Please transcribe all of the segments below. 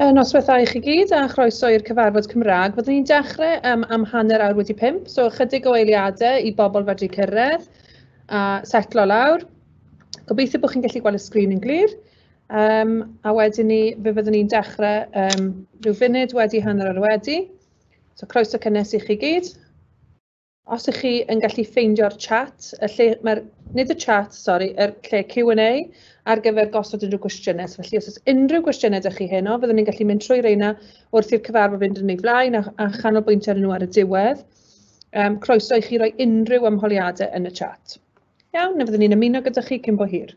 Yn noswaithau i chi gyd a chroeso i'r cyfarfod Cymraeg. Fyddwn ni'n dechrau um, am hanner awr wedi pimp, so ychydig o eiliadau i bobl fedru cyrraedd a setlo lawr. Gobeithio bod chi'n gallu gweld y sgrin yn glir. Um, a wedyn ni, fe fyddwn ni'n dechrau um, rhyw funud wedi hanner awr wedi. So croeso cynnes i chi gyd. Os ych chi yn gallu ffeindio'r chat, y lle, mae'r, nid y chat, sori, y lle Q&A ar gyfer gosod unrhyw gwestiynau. So, felly, os oes unrhyw gwestiynau ydych chi heno, fyddwn ni'n gallu mynd trwy reina wrth i'r cyfarfod fynd yn ei flaen a, a chanolbwyntio ar nhw ar y diwedd. Um, croeso i chi roi unrhyw ymholiadau yn y chat. Iawn, na fyddwn ni'n ymuno gyda chi cyn bo hir.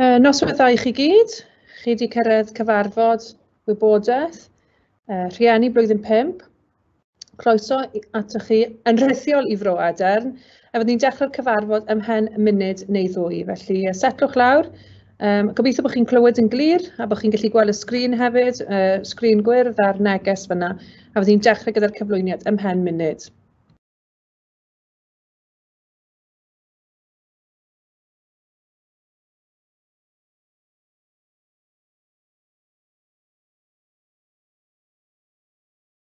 Yy noswaith dda i chi gyd. Chi 'di cyrraedd cyfarfod wybodaeth yy rhieni blwyddyn pump. Croeso atoch chi yn rhithiol i Fro Adern. A fydden ni'n dechrau'r cyfarfod ym mhen munud neu ddwy. Felly setlwch lawr. Um, gobeithio bod chi'n clywed yn glir a bod chi'n gallu gweld y sgrin hefyd, uh, sgrin gwyrdd a'r neges fyna. A fydden ni'n dechrau gyda'r cyflwyniad ym mhen munud.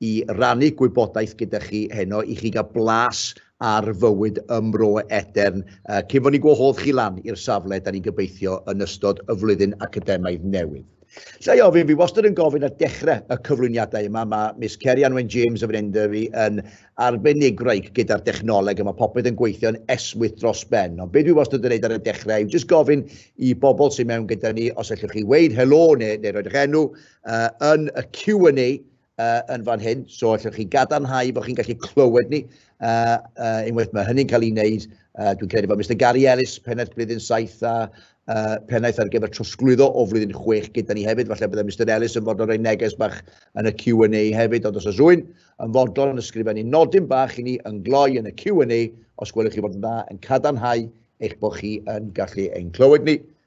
i rannu gwybodaeth gyda chi heno, i chi gael blas ar fywyd ym Mro Edern, uh, cyn fod ni'n gwahodd chi lan i'r safle, da ni'n gobeithio, yn ystod y flwyddyn academaidd newydd. Lle i ofyn, fi wastad yn gofyn ar dechrau y cyflwyniadau yma, mae Miss Kerry Anwen James o fan Enderby yn arbenigraig gyda'r dechnoleg a mae popeth yn gweithio'n esmwyth dros ben. Ond beth dwi wastad yn gwneud ar y dechrau yw jyst gofyn i bobl sy'n mewn gyda ni os allwch chi weid helo neu, neu roed eich enw uh, yn y Q&A uh, yn fan hyn, so allwch chi gadarnhau bod chi'n gallu clywed ni. Uh, uh, unwaith mae hynny'n cael ei wneud, uh, dwi'n credu bod Mr Gary Ellis, pennaeth blwyddyn 7 a uh, pennaeth ar gyfer trosglwyddo o flwyddyn 6 gyda ni hefyd. Falle byddai Mr Ellis yn fodlon rhoi neges bach yn y Q&A hefyd, ond os oes rwy'n yn fodlon yn ysgrifennu nodyn bach i ni yn gloi yn y Q&A, os gwelwch chi fod yn dda, yn cadarnhau eich bod chi yn gallu ein clywed ni.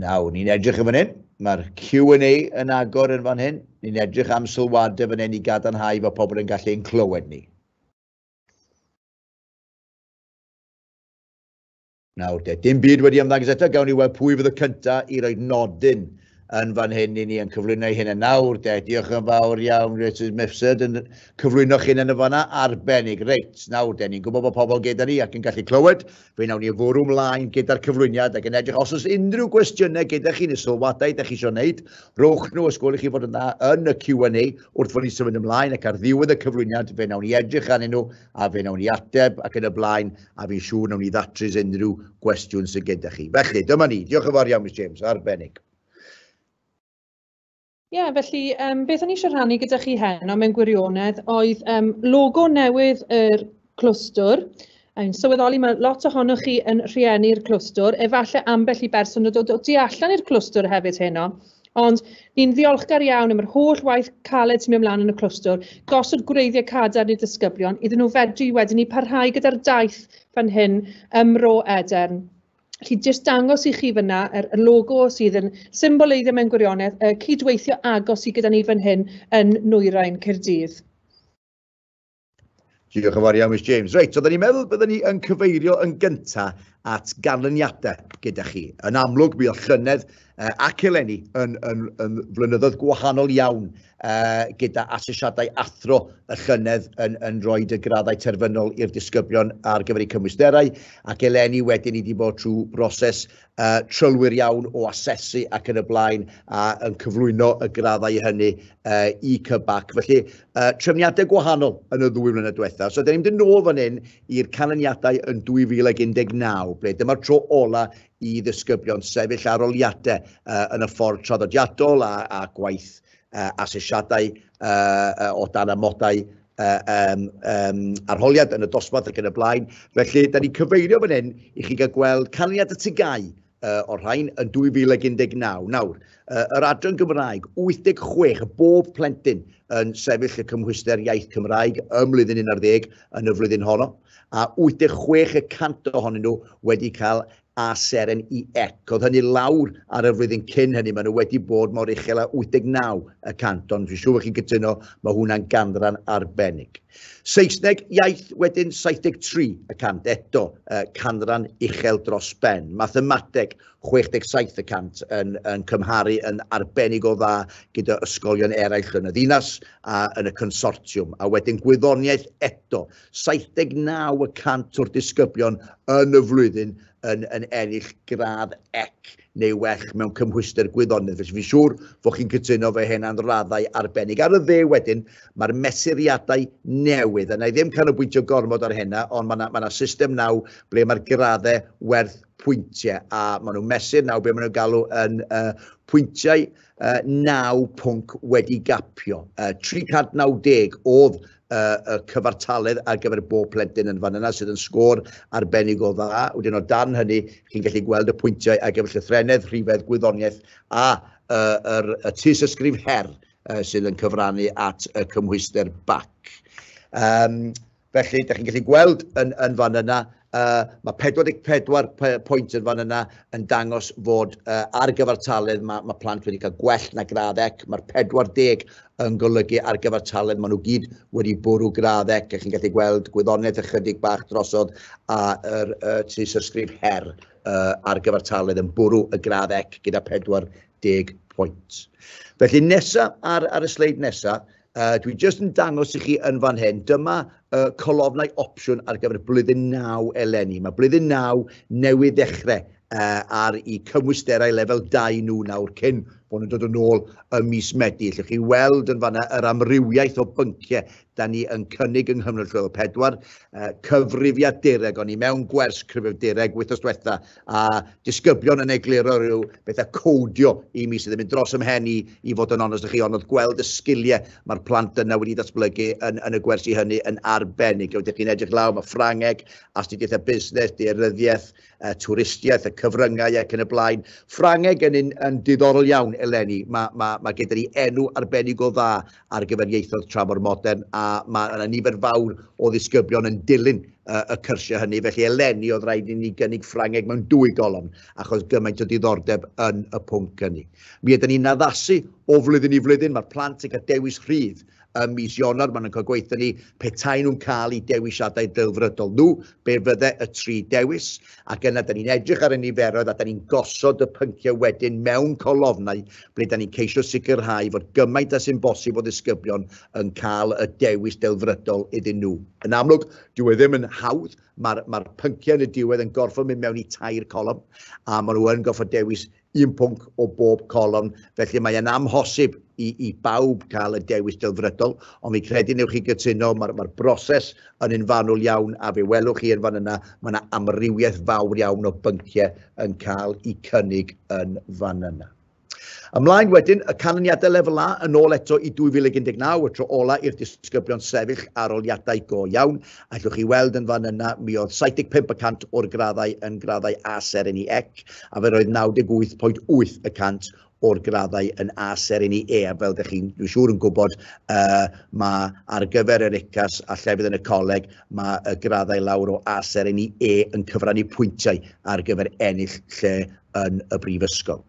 Nawr, ni'n edrych yn fan hyn. Mae'r Q&A yn agor yn fan hyn. Ni'n edrych am sylwadau fan hyn i gadarnhau fod pobl yn gallu ein clywed ni. Nawr de, dim byd wedi ymddangos eto, gawn ni weld pwy fydd y cyntaf i roi nodyn yn fan hyn i ni yn cyflwyno hyn yn nawr de. Diolch yn fawr iawn, Richard Mifsud, yn cyflwyno chi'n yn y fanna arbennig. Reit, nawr de, ni'n gwybod bod pobl gyda ni ac yn gallu clywed, Fe wnawn ni fwrw mlaen gyda'r cyflwyniad ac yn edrych os oes unrhyw gwestiynau gyda chi neu sylwadau da chi eisiau wneud, rowch nhw os gwelwch chi fod yn dda yn y Q&A wrth fod ni'n symud ymlaen ac ar ddiwedd y cyflwyniad fe wnawn ni edrych arnyn nhw a fe wnawn ni ateb ac yn y blaen a fi'n siŵr wnawn ni ddatrys unrhyw gwestiwn sydd gyda chi. Felly, dyma ni. Diolch yn fawr iawn, Miss James. Arbennig. Ie, yeah, felly um, beth o'n i eisiau rhannu gyda chi heno mewn gwirionedd oedd um, logo newydd yr er clwstwr. Yn sylweddoli, mae lot ohonoch chi yn rhieni'r clwstwr, efallai ambell i berson yn dod o tu allan i'r clwstwr hefyd heno. Ond ni'n ddiolchgar iawn am yr holl waith caled sy'n mynd mlaen yn y clwstwr, gosod gwreiddiau cadarn i'r disgyblion, iddyn nhw fedru wedyn i parhau gyda'r daith fan hyn ym Mro Edern. Felly jyst dangos i chi fyna yr y logo sydd yn symboleiddio mewn gwirionedd y cydweithio agos sydd gyda ni fan hyn yn Nwyrain Caerdydd. Diolch yn fawr iawn, Miss James. Reit, oedden ni'n meddwl byddwn ni yn cyfeirio yn gyntaf at ganlyniadau gyda chi. Yn amlwg, mi oedd llynedd uh, ac eleni yn, yn, yn flynyddoedd gwahanol iawn uh, gyda asesiadau athro y llynedd yn, yn rhoi y graddau terfynol i'r disgyblion ar gyfer eu cymwysterau ac eleni wedyn i wedi bod trwy broses uh, trylwyr iawn o asesu ac yn y blaen a yn cyflwyno y graddau hynny uh, i cybac. Felly, uh, trefniadau gwahanol yn y ddwy flynedd diwethaf. So, da ni'n mynd yn ôl fan hyn i'r canlyniadau yn 2019, ble dyma'r tro ola i ddisgyblion sefyll aroliadau uh, yn y ffordd traddodiadol a, a gwaith uh, asesiadau uh, o dan amodau uh, um, um, arholiad yn y dosbarth ac yn y blaen. Felly, da ni'n cyfeirio fan hyn i chi gael gweld canlyniad y tygau uh, o'r rhain yn 2019. Nawr, uh, yr adran Gymraeg, 86 bob plentyn yn sefyll y cymhwyster iaith Cymraeg ym mlynddyn 11 yn y flwyddyn honno. a 86 y cant ohonyn nhw wedi cael A seren i ec. Oedd hynny lawr ar y flwyddyn cyn hynny, maen nhw wedi bod mor uchel â 89 y cant, ond fi'n siŵr bod chi'n cytuno, mae hwnna'n ganran arbennig. Saesneg iaith wedyn 73 y cant, eto uh, canran uchel dros ben. Mathemateg 67 y cant yn, yn cymharu yn arbennig o dda gyda ysgolion eraill yn y ddinas a yn y consortiwm. A wedyn gwyddoniaeth eto 79 y cant o'r disgyblion yn y flwyddyn yn, yn ennill gradd ec neu well mewn cymhwyster gwyddonydd. Felly fi'n siŵr fod chi'n cytuno fe hyn am raddau arbennig. Ar y dde wedyn, mae'r mesuriadau newydd, a na i ddim canolbwyntio gormod ar hynna, ond mae yna ma system naw ble mae'r graddau werth pwyntiau, a maen nhw'n mesur naw be maen nhw'n galw yn uh, pwyntiau uh, 9 pwnc wedi gapio. Uh, 390 oedd y cyfartaledd ar gyfer bob plentyn yn fan yna sydd yn sgôr arbennig o dda. Wedyn o dan hynny, chi'n gallu gweld y pwyntiau ar gyfer llythrenedd, rhifedd, gwyddoniaeth a uh, yr, y tus ysgrif her uh, sydd yn cyfrannu at y cymhwyster BAC. Um, felly, da chi'n gallu gweld yn, yn fan yna Uh, mae 44 pwynt yn fan yna yn dangos fod uh, ar gyfartaledd mae, mae plant wedi cael gwell na gradd ec. Mae'r 40 yn golygu ar gyfartaledd maen nhw gyd wedi bwrw gradd ec. A chi'n gallu gweld gwyddoniaeth ychydig bach drosodd a yr uh, tri sysgrif her uh, ar gyfartaledd yn bwrw y gradd ec gyda 40 pwynt. Felly nesaf ar, ar y sleid nesaf, Uh, dwi jyst yn dangos i chi yn fan hyn, dyma uh, colofnau opsiwn ar gyfer blwyddyn 9 eleni. Mae blwyddyn 9 newydd ddechrau uh, ar i cymwysterau lefel 2 nhw nawr cyn bod nhw'n dod yn ôl y mis Medi. Llwch chi weld yn fanna yr amrywiaeth o bynciau da ni yn cynnig yng Nghymru Llwyddo 4, uh, cyfrifiadureg, o'n i mewn gwers cyfrifiadureg wythnos diwetha, a disgyblion yn egluro rhyw bethau codio i mi sydd yn mynd dros ymhen i, i fod yn onest â chi, ond oedd gweld y sgiliau mae'r plant yna wedi ddatblygu yn, yn y gwersi hynny yn arbennig. Oeddech chi'n edrych law, mae Ffrangeg, astudiaethau busnes, dearyddiaeth, uh, twristiaeth, y cyfryngau ac yn y blaen. Ffrangeg yn, yn, yn diddorol iawn eleni, mae, mae, mae gyda ni enw arbennig o dda ar gyfer ieithoedd tramor modern, a mae yna nifer fawr o ddisgyblion yn dilyn uh, y cyrsiau hynny, felly eleni oedd rhaid i ni gynnig Ffrangeg mewn dwy golofn, achos gymaint o diddordeb yn y pwnc hynny. Mi ydyn ni'n addasu o flwyddyn i flwyddyn, mae'r plant yn cael dewis rhydd ym mis Ionawr, maen nhw'n cael gweithio ni petai nhw'n cael eu dewisiadau delfrydol nhw, be fydde y tri dewis. Ac yna, da ni'n edrych ar y niferoedd a da ni'n gosod y pynciau wedyn mewn colofnau ble da ni'n ceisio sicrhau fod gymaint a sy'n bosib o ddisgyblion yn cael y dewis delfrydol iddyn nhw. Yn amlwg, dyw e ddim yn hawdd, mae'r ma pynciau yn y diwedd yn gorfod mynd mewn i tair colofn a maen nhw yn gorfod dewis un pwnc o bob colofn, felly mae yna amhosib i, i bawb cael y dewis delfrydol, ond fi credu newch chi gytuno, mae'r mae broses yn un fanwl iawn, a fe welwch chi yn fan yna, mae yna amrywiaeth fawr iawn o bynciau yn cael eu cynnig yn fan yna. Ymlaen wedyn, y canlyniadau lefel A yn ôl eto i 2019, y tro ola i'r disgyblion sefyll aroliadau go iawn, Allwch chi weld yn fan yna, mi oedd 75 y cant o'r graddau yn graddau A Serini Ec, a fe roedd 98.8 y cant o'r graddau yn A Serini E, a fel ydych chi'n dwi'n siŵr yn gwybod, uh, mae ar gyfer yr UCAS a llefydd yn y coleg, mae y graddau lawr o A Serini E yn cyfrannu pwyntiau ar gyfer ennill lle yn y brifysgol.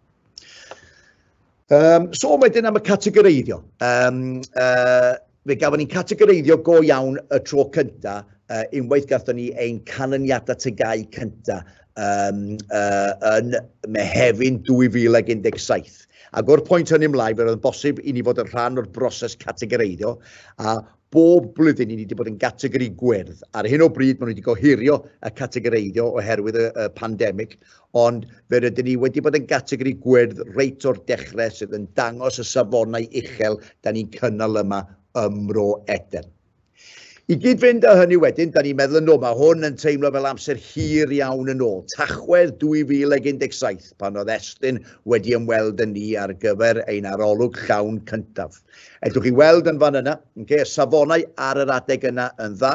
Um, so wedyn am y categoreiddio. Um, uh, fe gafon ni'n categoreiddio go iawn y tro cynta, uh, unwaith gatho ni ein canlyniadau tygau cynta um, uh, yn Mehefin 2017. Ac o'r pwynt hynny ymlaen, fe roedd yn bosib i ni fod yn rhan o'r broses categoreiddio, a bob blwyddyn i ni wedi bod yn gategori gwyrdd. Ar hyn o bryd, maen nhw wedi gohirio y categoreiddio oherwydd y, y pandemig, ond fe rydyn ni wedi bod yn gategori gwyrdd reit o'r dechrau sydd yn dangos y safonau uchel da ni'n cynnal yma ym Mro Eden. I gyd fynd â hynny wedyn, da ni'n meddwl yn ôl, mae hwn yn teimlo fel amser hir iawn yn ôl. Tachwedd 2017, pan oedd Estyn wedi ymweld yn ni ar gyfer ein arolwg llawn cyntaf. Edwch chi weld yn fan yna, okay, y safonau ar yr adeg yna yn dda,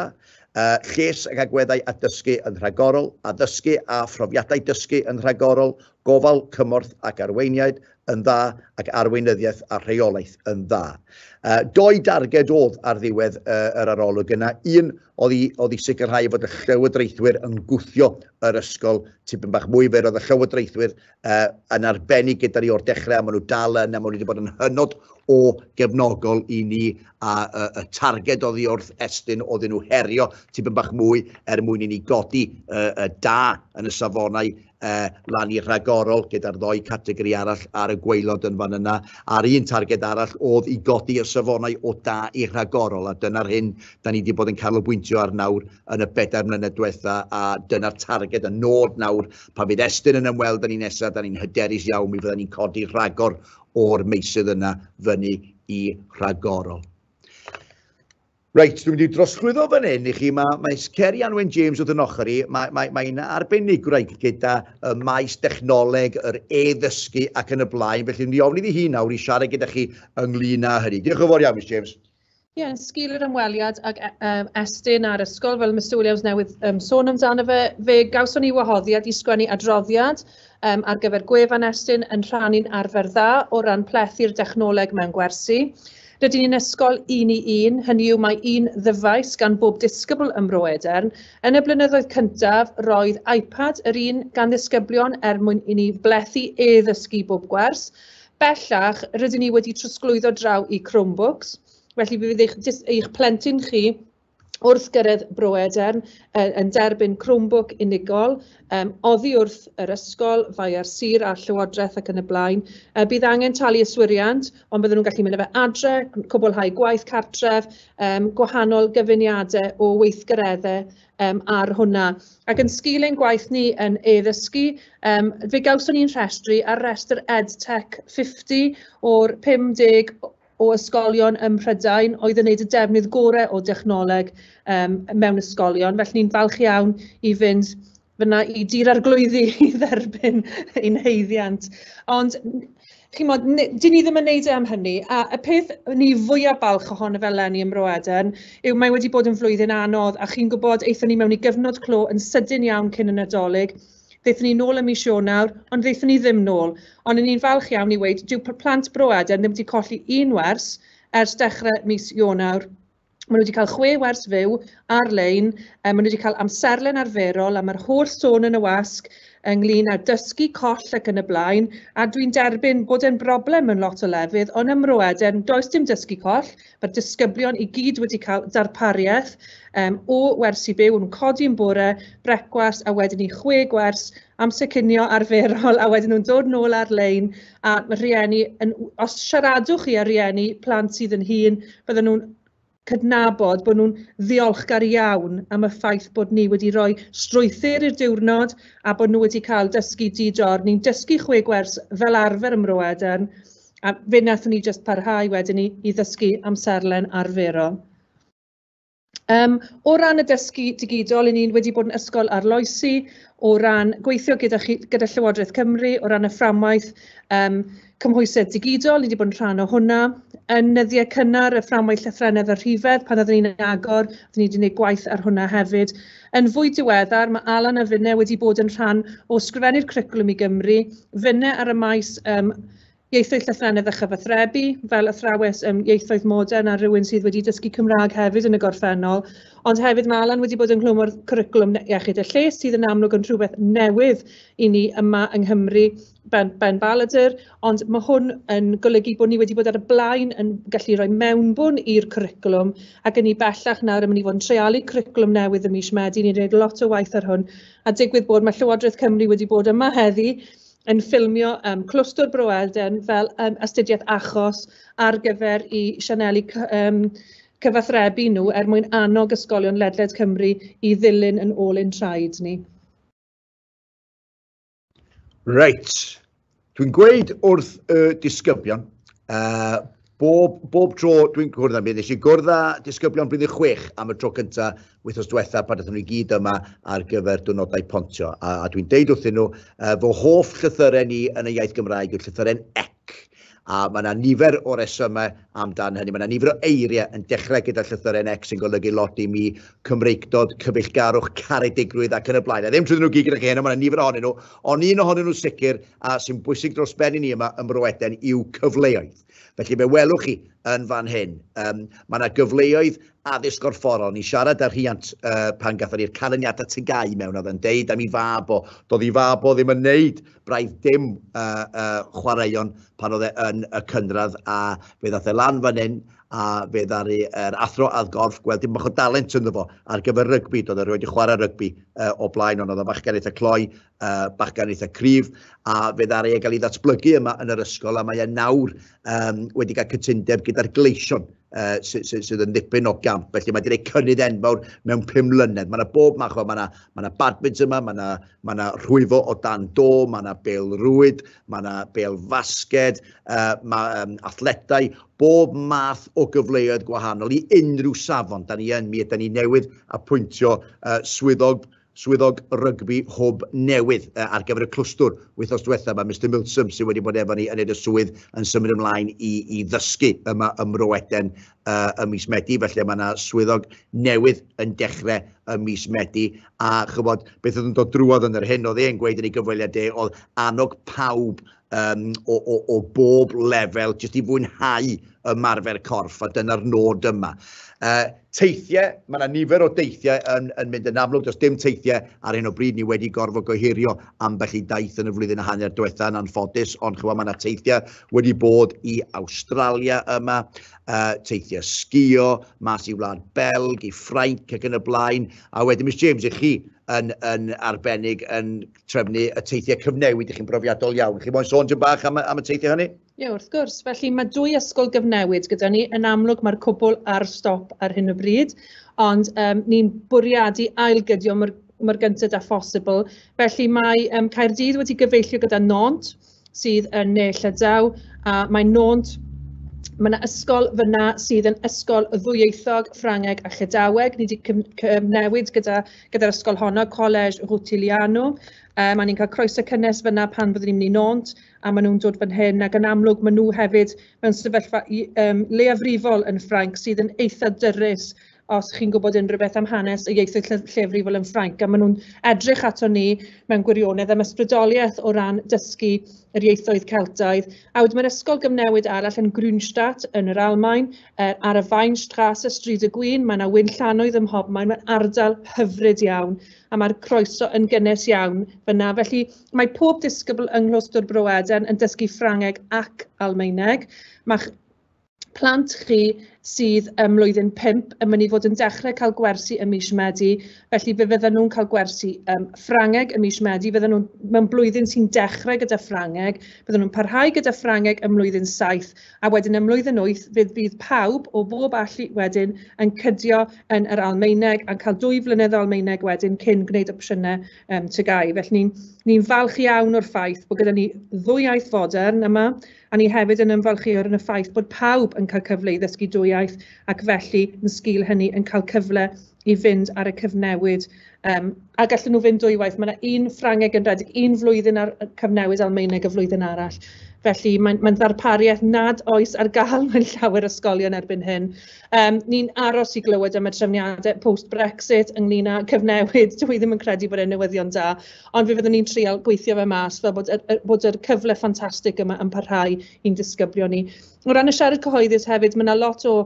uh, lles ac agweddau a dysgu yn rhagorol, addysgu a phrofiadau dysgu yn rhagorol, gofal, cymorth ac arweiniaid yn dda ac arweinyddiaeth a rheolaeth yn dda. Uh, doi darged oedd ar ddiwedd uh, yr arolwg yna. Un oedd i, oedd i sicrhau fod y llywodraethwyr yn gwthio yr ysgol tipyn bach mwy, fe roedd y llywodraethwyr uh, yn arbennig gyda ni o'r dechrau, a maen nhw dal yn, a maen nhw wedi bod yn hynod o gefnogol i ni, a uh, y targed oddi wrth estyn oedden nhw herio tipyn bach mwy er mwyn i ni godi uh, uh, da yn y safonau uh, lan i'r rhagorol gyda'r ddoi categori arall ar y gweilod yn fan yna. A'r un targed arall oedd i godi y safonau o da i'r rhagorol, a dyna'r hyn da ni wedi bod yn canolbwyntio ar nawr yn y bedair mlynedd diwetha, a dyna'r targed y nod nawr Pan fydd Estyn yn ymweld â ni nesaf, da ni'n hyderus iawn mi fydda ni'n codi rhagor o'r meysydd yna fyny i rhagorol. Reit, dwi'n mynd i drosglwyddo fan hyn i chi. Mae, mae Ceri Anwen James wrth yn ochr i. Mae'n mae, mae arbenigwraig gyda y maes dechnoleg, yr e-ddysgu ac yn y blaen. Felly, ni ofni ddi hi nawr i siarad gyda chi ynglyn â hynny. Diolch yn fawr iawn, Miss James. Ie, yeah, sgil yr ymweliad ag um, Estyn a'r ysgol, fel Mr Williams newydd um, sôn amdano fe, fe gawson ni wahoddiad i sgwennu adroddiad um, ar gyfer gwefan Estyn yn rhannu'n arfer dda o ran plethu'r dechnoleg mewn gwersi. Rydyn ni'n ysgol un i un, hynny yw mae un ddyfais gan bob disgybl ym Mro Edern. Yn y blynyddoedd cyntaf, roedd iPad yr un gan ddisgyblion er mwyn i ni blethu e-ddysgu bob gwers. Bellach, rydyn ni wedi trosglwyddo draw i Chromebooks, felly fe fydd eich jyst eich plentyn chi wrth gyrraedd Bro Edern yy yn derbyn Chromebook unigol, yym oddi wrth yr ysgol, Faea'r Sir a'r Llywodraeth ac yn y blaen. Yy bydd angen talu yswiriant, ond bydden nhw'n gallu mynd â fe adre, cwblhau gwaith cartref, yym gwahanol gyfuniadau o weithgareddau yym ar hwnna. Ac yn sgil ein gwaith ni yn e-ddysgu, yym fe gawson ni'n rhestru ar restr EdTech 50 o'r 50 o ysgolion ym Mhrydain oedd yn wneud y defnydd gorau o dechnoleg yym mewn ysgolion, felly ni'n falch iawn i fynd fanna i Dŷ'r Arglwyddi i dderbyn ein haeddiant. Ond... Chimod, ni... 'dyn ni ddim yn wneud e am hynny, a y peth o'n i fwya' balch ohono fe eleni ym Mro Eden yw mae wedi bod yn flwyddyn anodd a chi'n gwybod, aethon ni mewn i gyfnod clo yn sydyn iawn cyn y Nadolig, ddaethon ni nôl ym mis Ionawr ond ddaethon ni ddim nôl, ond 'yn ni'n falch iawn i weud dyw p- plant Bro Eden ddim wedi colli un wers ers dechrau mis Ionawr. Maen nhw 'di cael chwe wers fyw ar-lein, yy maen nhw 'di cael amserlen arferol a ma'r holl sôn yn y wasg ynglyn â dysgu coll ac yn y blaen, a dwi'n derbyn bod e'n broblem mewn lot o lefydd, ond ym Mro Eden does dim dysgu coll, mae'r disgyblion i gyd wedi cael darpariaeth yym o wersi byw, nhw'n codi'n bore, brecwast a wedyn i chwe gwers amser cinio arferol a wedyn nhw'n dod nôl ar-lein a mae rhieni yn os siaradwch chi â rhieni plant sydd yn hŷn bydden nhw'n cydnabod bod nhw'n ddiolchgar iawn am y ffaith bod ni wedi rhoi strwythur i'r diwrnod a bod nhw wedi cael dysgu di-dor. Ni'n dysgu chwe gwers fel arfer ym Mro Edern a fe wnaethon ni jyst parhau wedyn i, i ddysgu amserlen arferol. Yym o ran y dysgu digidol, 'y ni wedi bod yn ysgol arloesi o ran gweithio gyda chi... gyda Llywodraeth Cymru o ran y fframwaith yym cymhwysedd digidol, ni wedi bod yn rhan o hwnna. Yn nyddiau cynnar y fframwaith llythrennedd a rhifedd pan oeddwn ni'n agor, oeddwn ni wedi gwneud gwaith ar hwnna hefyd. Yn fwy diweddar, mae Alan a finne wedi bod yn rhan o Sgrifennu'r Cwricwlwm i Gymru, finne ar y maes yym Ieithoedd Llythrennedd a Chyfathrebu, fel athrawes ym Ieithoedd Modern a rhywun sydd wedi dysgu Cymraeg hefyd yn y gorffennol, ond hefyd mae Alan wedi bod ynghlwm â'r cwricwlwm iechyd a lles sydd yn amlwg yn rhywbeth newydd i ni yma yng Nghymru, Ben, ben Balladur, ond mae hwn yn golygu bod ni wedi bod ar y blaen yn gallu rhoi mewnbwn i'r cwricwlwm ac yn ni bellach nawr yn mynd i fod yn treialu cwricwlwm newydd ym mis Medi, ni'n gwneud lot o waith ar hwn a digwydd bod mae Llywodraeth Cymru wedi bod yma heddi yn ffilmio yym Clwstwr Bro Alden fel yym astudiaeth achos ar gyfer eu sianeli cy- yym cyfathrebu nhw er mwyn annog ysgolion ledled Cymru i ddilyn yn ôl ein traed ni. Reit, dwi'n gweud wrth y disgyblion yy Bob, bob tro dwi'n cwrdd â mi, nes i gwrdd â disgyblion blwyddyn chwech am y tro cyntaf wythnos diwetha pan ydyn nhw i gyd yma ar gyfer diwrnodau pontio. A, a dwi'n deud wrthyn nhw, uh, fy hoff llythyren ni yn y iaith Gymraeg yw'r llythyren ec. A mae yna nifer o resymau amdan hynny. Mae yna nifer o eiriau yn dechrau gyda llythyren ec sy'n golygu lot i mi, Cymreictod, cyfeillgarwch, caredigrwydd ac yn y blaen. A ddim trwy nhw gyd gyda chi heno, mae yna nifer ohonyn nhw, ond un ohonyn nhw sicr a sy'n bwysig dros ben i ni yma ym Mroeden yw cyfleoedd. Felly fe welwch chi yn fan hyn, um, mae yna gyfleoedd addysg o'r ffordd. O'n i siarad â rhiant uh, pan gatho ni'r canlyniadau tygau mewn oedd yn deud am i fab o. Doedd i fab o ddim yn neud braidd dim uh, uh, chwaraeon pan oedd e yn y cynradd a fe ddath e lan fan hyn a fe ddaru yr athro add gorff gweld dim bach o dalent ynddo fo ar gyfer rygbi. Doedd e rhoi wedi chwarae rygbi uh, o blaen ond oedd y fachgen eitha cloi uh, bachgen eitha cryf, a fe ddaru e gael ei ddatblygu yma yn yr ysgol, a mae e nawr um, wedi cael cytundeb gyda'r gleision uh, sydd, sy, sy yn ddipyn o gamp. Felly mae wedi gwneud cynnydd enfawr mewn pum mlynedd. Mae yna bob math o, mae yna, ma yna badminton yma, mae yna, ma yna rhwyfo o dan do, mae yna bel rwyd, mae yna bel fasged, uh, mae um, athletau, bob math o gyfleoedd gwahanol i unrhyw safon. Da ni yn mi, da ni newydd apwyntio uh, swyddog Swyddog Rygbi Hwb newydd ar gyfer y clwstwr. Wythnos diwetha mae Mister Milsom sydd wedi bod efo ni yn neud y swydd yn symud ymlaen i i ddysgu yma ym Mro Eden ym mis Medi felly mae yna swyddog newydd yn dechrau ym mis Medi a chybod beth oedd yn dod drwodd yn yr hyn oedd e'n gweud yn ei gyfweliad e oedd annog pawb um, o, o, o bob lefel, jyst i fwynhau ymarfer corff, a dyna'r nod yma. Uh, teithiau, mae yna nifer o deithiau yn, yn mynd yn amlwg, does dim teithiau ar hyn o bryd, ni wedi gorfod gohirio ambell i daith yn y flwyddyn a hanner diwetha yn anffodus, ond chywa mae yna teithiau wedi bod i Australia yma, uh, teithiau sgio, mas i Wlad Belg, i Ffrainc ac yn y blaen, a wedyn Miss James, i chi, yn, yn arbennig yn trefnu y teithiau cyfnewid, ydych chi'n brofiadol iawn. Chi'n moyn sôn dyn bach am, am y teithiau hynny? Ie, yeah, wrth gwrs. Felly mae dwy ysgol gyfnewid gyda ni. Yn amlwg mae'r cwbl ar stop ar hyn o bryd, ond um, ni'n bwriadu ailgydio mor, mor gyntaf â phosibl. Felly mae um, Caerdydd wedi gyfeillio gyda Nont, sydd yn Ne Llydaw a mae Nônt Mae yna ysgol fyna sydd yn ysgol ddwyieithog, Ffrangeg a Llydaweg. Ni wedi cyfnewid gyda, gyda'r ysgol honno, Collège Rutiliano. Um, mae ni'n cael croeso cynnes fyna pan fyddwn ni'n mynd i nônt a maen nhw'n dod fan hyn ac yn amlwg maen nhw hefyd mewn sefyllfa um, leiafrifol yn Ffrainc sydd yn eitha dyrus os chi'n gwybod unrhyw beth am hanes y ieithoedd lle- lleafrifol yn Ffrainc, a maen nhw'n edrych ato ni mewn gwirionedd am ysbrydoliaeth o ran dysgu yr ieithoedd Celtaidd. A wedyn mae'r ysgol gyfnewid arall yn Grünstadt yn yr Almaen, uh, ar y Weinstrasse, Stryd y Gwyn, mae yna wyn llanoedd ym mhob maen, mae'n ardal hyfryd iawn, a mae'r croeso yn gynnes iawn fyna. Felly mae pob disgybl yng Nghlostwr Bro Eden yn dysgu Ffrangeg ac Almaeneg. Mae'ch plant chi sydd ym mlwyddyn pump yn mynd i fod yn dechrau cael gwersi ym mis Medi, felly fe fyddan nhw'n cael gwersi um, Ffrangeg ym mis Medi, fyddan nhw'n mewn blwyddyn sy'n dechrau gyda Ffrangeg, fyddan nhw'n parhau gyda Ffrangeg ym mlwyddyn saith, a wedyn ym mlwyddyn wyth fe fydd pawb o bob allu wedyn yn cydio yn yr Almaeneg a'n cael dwy flynedd o Almaeneg wedyn cyn gwneud opsiynau um, tygau. Felly ni'n ni falch iawn o'r ffaith bod gyda ni ddwy iaith fodern yma, A ni hefyd yn ymfalchïo yn y ffaith bod pawb yn cael cyfle i ddysgu dwy iaith ac felly yn sgil hynny yn cael cyfle i fynd ar y cyfnewid um, a gallen nhw fynd dwywaith. Mae yna un Ffrangeg yn rhedeg un flwyddyn ar cyfnewid Almaeneg y flwyddyn arall. Felly mae'n mae ddarpariaeth nad oes ar gael mewn llawer ysgolion erbyn hyn. Um, ni'n aros i glywed am y trefniadau post-Brexit ynglyn â cyfnewid. Dwi ddim yn credu bod e'n newyddion da, Ond fe fyddwn ni'n treial gweithio fe mas fel bod yr bod yr cyfle ffantastig yma yn parhau i'n disgyblion ni. O ran y siarad cyhoeddus hefyd, mae 'na lot o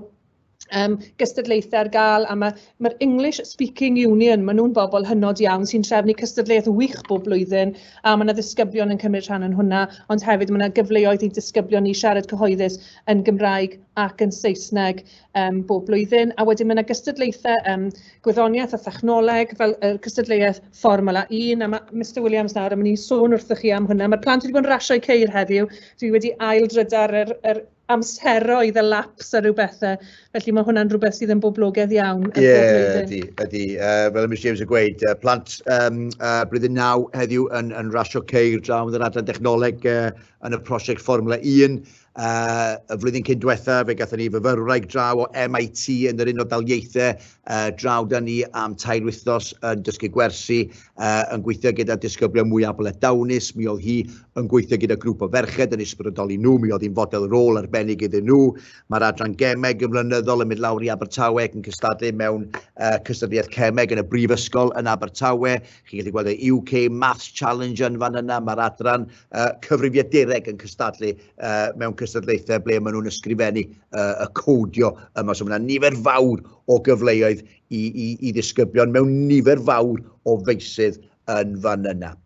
um, gystadlaethau ar gael a mae'r ma English Speaking Union, maen nhw'n bobl hynod iawn sy'n trefnu cystadleuaeth wych bob blwyddyn a mae yna ddisgyblion yn cymryd rhan yn hwnna, ond hefyd mae yna gyfleoedd i disgyblion ni siarad cyhoeddus yn Gymraeg ac yn Saesneg. yym bob blwyddyn, a wedyn ma' 'na gystadlaethau yym gwyddoniaeth a thechnoleg fel yr cystadleuaeth Fformwla Un, a ma' Mister Williams nawr yn mynd i sôn wrthych chi am hwnna. Ma'r plant wedi bod yn rasio eu ceir heddiw, dwi wedi ail-drydar yr yr amseroedd, y laps a ryw bethe, felly ma' hwnna'n rhywbeth sydd yn boblogedd iawn yn bob blwyddyn. Ie, ydi, ydi. Uh, fel y Miss James yn gweud, uh, plant um, uh, blwyddyn naw heddiw yn, yn rasio ceir draw yn yr adran dechnoleg uh, yn y prosiect Fformwla 1, y flwyddyn cyn diwetha, fe gatho ni fyfyrwraig draw o MIT yn yr Unol Daliaethau uh, draw da ni am tair wythnos yn dysgu gwersi, uh, yn gweithio gyda disgyblion mwy abl a dawnus. Mi oedd hi yn gweithio gyda grŵp o ferched yn ysbrydoli nhw, mi oedd hi'n fodel rôl arbennig iddyn nhw. Mae'r adran gemeg yn flynyddol yn mynd lawr i Abertawe ac yn cystadlu mewn uh, cystadleuaeth cemeg yn y brifysgol yn Abertawe. Chi'n gallu gweld y UK Maths Challenge yn fan yna, mae'r adran uh, cyfrifiadureg yn cystadlu uh, mewn cystadlaethau ble maen nhw'n ysgrifennu uh, y codio yma. So mae yna nifer fawr o gyfleoedd i, i, i ddisgyblion mewn nifer fawr o feisydd yn fan yna.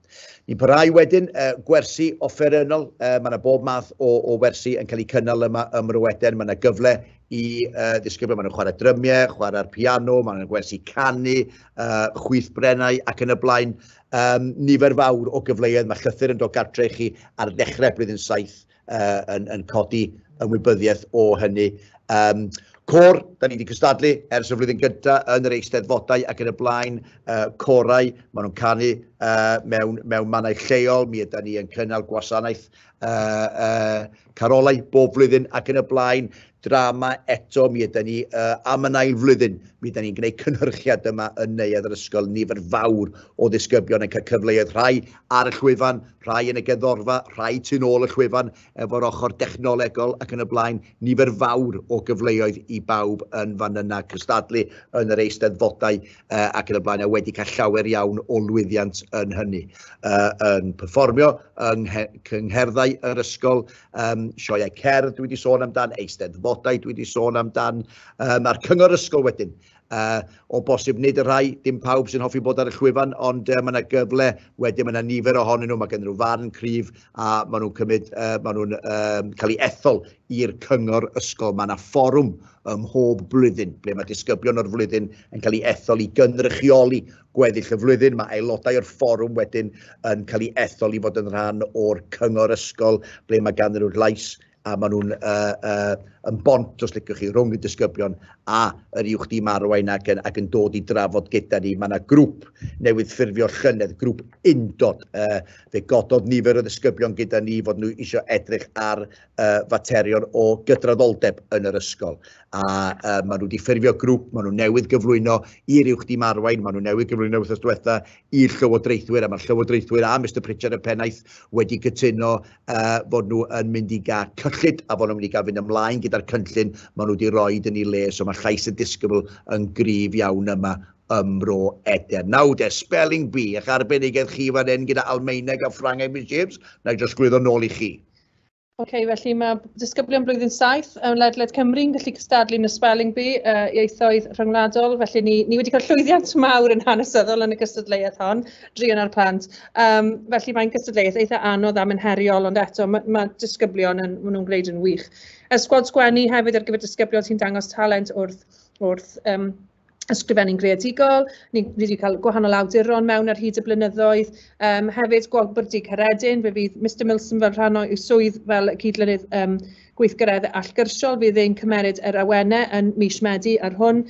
Ni'n parhau wedyn uh, gwersi offerynnol, uh, mae yna bob math o, o wersi yn cael eu cynnal yma ym Mryweden, mae yna gyfle i uh, ddisgyblion, maen nhw'n chwarae drymiau, chwarae'r piano, maen nhw'n gwersi canu, uh, chwyth brennau ac yn y blaen. um, nifer fawr o gyfleoedd. Mae llythyr yn dod gartre i chi ar ddechrau blwyddyn saith uh, yn, yn codi ymwybyddiaeth o hynny. Um, Cor, da ni wedi cystadlu ers y flwyddyn gyda yn yr eisteddfodau ac yn y blaen uh, corau. Maen nhw'n canu uh, mewn, mewn mannau lleol. Mi ydy ni yn cynnal gwasanaeth uh, uh, carolau bob flwyddyn ac yn y blaen, drama eto, mi ydy ni uh, am yn ail flwyddyn, mi ydy ni'n gwneud cynhyrchiad yma yn neuadd yr ysgol, nifer fawr o ddisgybion yn cael cyfleoedd rhai ar y llwyfan, rhai yn y geddorfa, rhai tu'n ôl y llwyfan efo'r ochr dechnolegol ac yn y blaen, nifer fawr o gyfleoedd i bawb yn fan yna cystadlu yn yr eisteddfodau uh, ac yn y blaen, a wedi cael llawer iawn o lwyddiant yn hynny. Uh, yn performio yng cyngherddau yr ysgol, um, sioeau cerdd dwi wedi sôn amdan, eisteddfodau dwi wedi sôn amdan, um, a'r cyngor ysgol wedyn. Uh, o bosib nid y rhai, dim pawb sy'n hoffi bod ar y llwyfan, ond uh, mae yna gyfle, wedyn mae yna nifer ohonyn nhw, mae gen nhw farn cryf a maen nhw'n cymryd, uh, maen nhw'n um, cael ei ethol i'r cyngor ysgol. Mae yna fforwm ym mhob blwyddyn ble mae disgyblion o'r flwyddyn yn cael ei ethol i gynrychioli gweddill y flwyddyn. Mae aelodau o'r fforwm wedyn yn cael ei ethol i fod yn rhan o'r cyngor ysgol ble mae ganddyn nhw'r llais a maen nhw'n uh, uh, yn bont, os licwch chi, rhwng y disgyblion a yr uwch dim arwain ac yn, ac yn dod i drafod gyda ni. Mae yna grŵp newydd ffurfio llynedd, grŵp undod. Uh, fe gododd nifer o ddisgyblion gyda ni fod nhw eisiau edrych ar uh, faterion o gydraddoldeb yn yr ysgol. A uh, maen nhw wedi ffurfio grŵp, maen nhw newydd gyflwyno i'r uwch dim arwain, maen nhw newydd gyflwyno wrth diwetha i'r llywodraethwyr, a mae'r llywodraethwyr a Mr Pritchard y pennaeth wedi cytuno uh, fod nhw yn mynd i gael cyllid a fod nhw'n mynd i gael fynd ymlaen gyda'r cynllun maen nhw wedi rhoi yn ei le, so mae llais y disgybl yn gryf iawn yma ym Mro Eden. Nawr de, spelling bee, eich arbenigedd chi fan hyn gyda Almaeneg a Ffrangeg, Miss James, na i drosglwyddo nôl i chi. OK, felly mae disgyblion blwyddyn 7 yn ledled Cymru'n gallu cystadlu yn y Spelling Bee uh, ieithoedd rhyngwladol, felly ni, ni wedi cael llwyddiant mawr yn hanesyddol yn y gystadleuaeth hon, drion ar plant. Um, felly mae'n gystadleuaeth eitha anodd am yn heriol, ond eto mae, mae disgyblion yn, maen nhw'n gwneud yn wych. Ysgwad sgwennu hefyd ar gyfer disgyblion sy'n dangos talent wrth, wrth um, ysgrifennu'n greadigol, ni ni 'di cael gwahanol awduron mewn ar hyd y blynyddoedd, yym hefyd Gwobr Dŷ Caredin, fe fydd Mister Milsom fel rhan o'i swydd fel cyd-lynydd yym gweithgareddau allgyrsiol fydd e'n cymeryd yr awenau yn mis Medi ar hwn.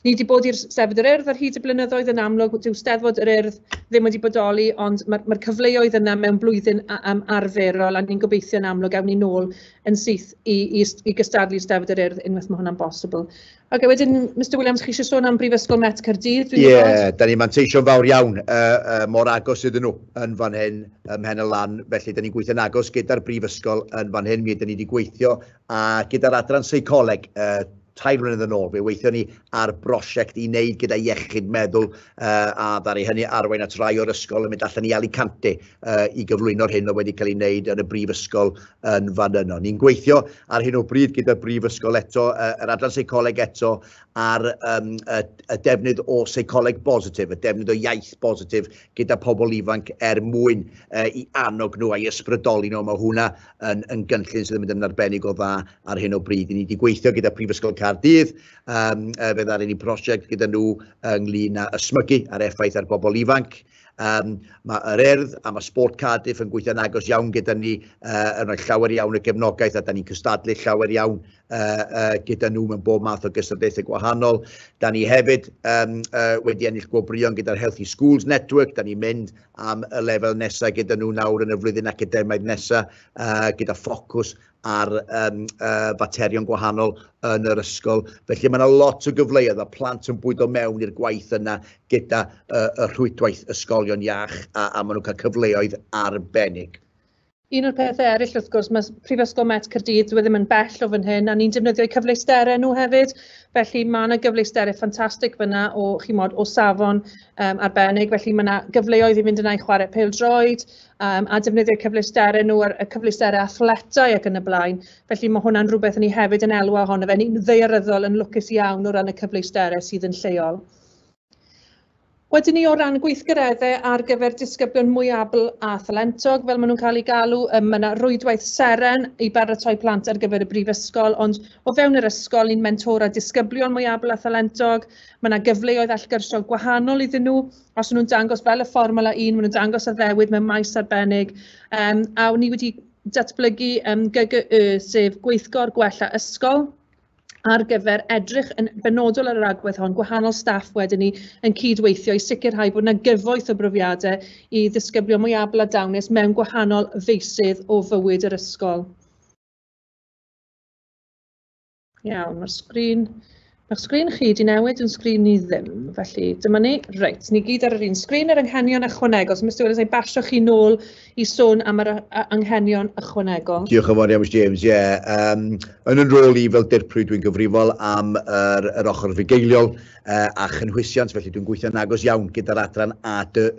Ni 'di bod i'r Steddfod yr Urdd ar hyd y blynyddoedd yn amlwg dyw Steddfod yr Urdd ddim wedi bodoli ond ma'r ma'r cyfleoedd yna mewn blwyddyn a- yym arferol a ni'n gobeithio yn amlwg ewn ni nôl yn syth i i s- i gystadlu i Steddfod yr Urdd unwaith ma' hwnna'n bosibl. Ocê wedyn Mister Williams chi eisiau sôn am Brifysgol Met Caerdydd dwi'n gwybod? Ie, da ni'n manteisio'n fawr iawn uh, uh, mor agos iddyn nhw yn fan hyn ym Mhen y Lan, felly da ni'n gweithio'n agos gyda'r Brifysgol yn fan hyn, mi ydyn ni wedi gweithio a gyda'r adran seicoleg uh, tair mlynedd yn ôl, fe weithio ni ar brosiect i wneud gyda iechyd meddwl uh, a ddari hynny arwain at rai o'r ysgol yn mynd allan i Alicante uh, i gyflwyno'r hyn oedd wedi cael ei wneud yn y brifysgol yn fan yno. Ni'n gweithio ar hyn o bryd gyda'r brifysgol eto, uh, yr adran seicoleg eto, a'r um, y, y defnydd o seicoleg bositif, y defnydd o iaith bositif gyda pobl ifanc er mwyn uh, i annog nhw a'i ysbrydoli nhw. Mae hwnna yn, yn gynllun sydd yn mynd yn arbennig o dda ar hyn o bryd. Ni wedi gweithio gyda Prifysgol Cardydd, um, fe ddaru ni prosiect gyda nhw ynglyn â ysmygu ar effaith ar bobl ifanc, Um, mae yr Urdd a mae Sport Cardiff yn gweithio'n agos iawn gyda ni, uh, yn rhoi llawer iawn o gefnogaeth a da ni'n cystadlu llawer iawn uh, uh, gyda nhw mewn bob math o gystadlaethau gwahanol. Da ni hefyd um, uh, wedi ennill gwobrion gyda'r Healthy Schools Network, da ni'n mynd am y lefel nesaf gyda nhw nawr yn y flwyddyn academaidd nesaf uh, gyda ffocws ar um, uh, faterion gwahanol yn yr ysgol. Felly mae yna lot o gyfleoedd a plant yn bwydo mewn i'r gwaith yna gyda uh, y rhwydwaith ysgolion iach a, a maen nhw'n cael cyfleoedd arbennig. Un o'r pethau eraill, wrth gwrs, mae Prifysgol Met Cyrdydd, dwi e ddim yn bell o fan hyn, a ni'n defnyddio'u cyfleusterau nhw hefyd. Felly mae yna gyfleusterau ffantastig fyna o, chimod, o safon um, arbennig. Felly mae yna gyfleoedd i fynd yna i chwarae pel droed, um, a defnyddio cyfleusterau nhw, y cyfleusterau athletau ac yn y blaen. Felly mae hwnna'n rhywbeth ni hefyd yn elwa ohono fe. Ni'n ddearyddol yn lwcus iawn o ran y cyfleusterau sydd yn lleol. Wedyn ni o ran gweithgareddau ar gyfer disgyblion mwyabl a thalentog, fel maen nhw'n cael eu galw, mae yna rwydwaith seren i baratoi plant ar gyfer y brifysgol, ond o fewn yr ysgol ni'n mentora disgyblion mwyabl a thalentog, mae yna gyfleoedd allgyrsiol gwahanol iddyn nhw, os nhw'n dangos fel y fformwla un, maen nhw'n dangos addewid mewn maes arbennig, um, a ni wedi datblygu um, GGY, sef Gweithgor Gwella Ysgol, ar gyfer edrych yn benodol ar yr agwedd hon, gwahanol staff wedyn ni yn cydweithio i sicrhau bod yna gyfoeth o brofiadau i ddisgyblion mwy abl a dawnus mewn gwahanol feysydd o fywyd yr ysgol. Iawn, mae'r sgrin... Mae'ch sgrin chi wedi newid yn sgrin ni ddim, felly dyma ni. Reit, ni gyd ar yr un sgrin yr anghenion ychwanegol. So, Mr Williams, na i basio chi nôl i sôn am yr anghenion ychwanegol. Diolch yn fawr iawn, Mr James. Ie, yeah. um, yn yn rôl i fel dirprwy dwi'n gyfrifol am yr, yr ochr fugeiliol uh, a chynhwysiant, felly dwi'n gweithio'n agos iawn gyda'r adran ADE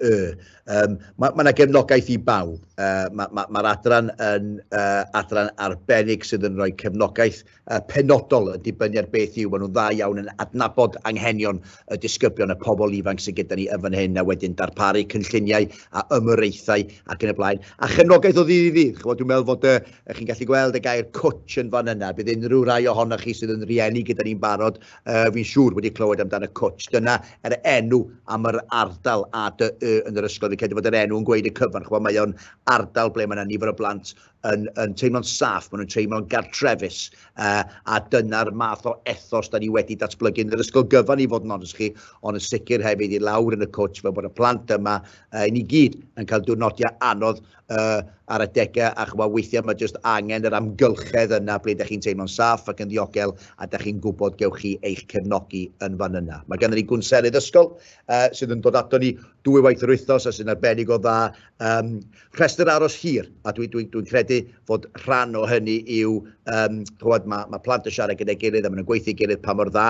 Um, mae yna ma gefnogaeth i bawb. Uh, Mae'r ma, ma adran yn uh, adran arbennig sydd yn rhoi cefnogaeth uh, penodol yn dibynnu ar beth yw. Maen nhw'n dda iawn yn adnabod anghenion y disgyblion, y pobl ifanc sydd gyda ni yn fan hyn, a wedyn darparu cynlluniau a ymyraethau ac yn y blaen. A chefnogaeth o ddydd i ddydd. Chymod, dwi'n meddwl fod y, chi'n gallu gweld y gair cwtch yn fan yna. Bydd unrhyw rai ohonoch chi sydd yn rieni gyda ni'n barod uh, fi'n siŵr wedi clywed amdan y cwtsh. Dyna yr er enw am yr ardal a dy y yn yr ysgol. Fi'n credu bod yr enw yn gweud y cyfan. Chwa, mae o'n ardal ble mae yna nifer o blant yn, yn teimlo'n saff, maen nhw'n teimlo'n gartrefus, uh, a dyna'r math o ethos da ni wedi datblygu yn yr ysgol gyfan i fod yn onest chi, ond yn sicr hefyd i lawr yn y cwtsh fel bod y plant yma uh, i ni gyd yn cael diwrnodiau anodd uh, ar adegau a chwa weithiau mae jyst angen yr amgylchedd yna ble ydych chi'n teimlo'n saff ac yn ddiogel a ydych chi'n gwybod gewch chi eich cefnogi yn fan yna. Mae gennym ni gwnselydd ysgol uh, sydd yn dod ato ni dwy waith yr wythnos a sy'n arbennig o dda. Um, rhestr aros hir a dwi'n dwi, dwi, dwi credu fod rhan o hynny yw, um, chwad, mae, mae plant yn siarad gyda'i gilydd a maen nhw'n gweithio gilydd pa mor dda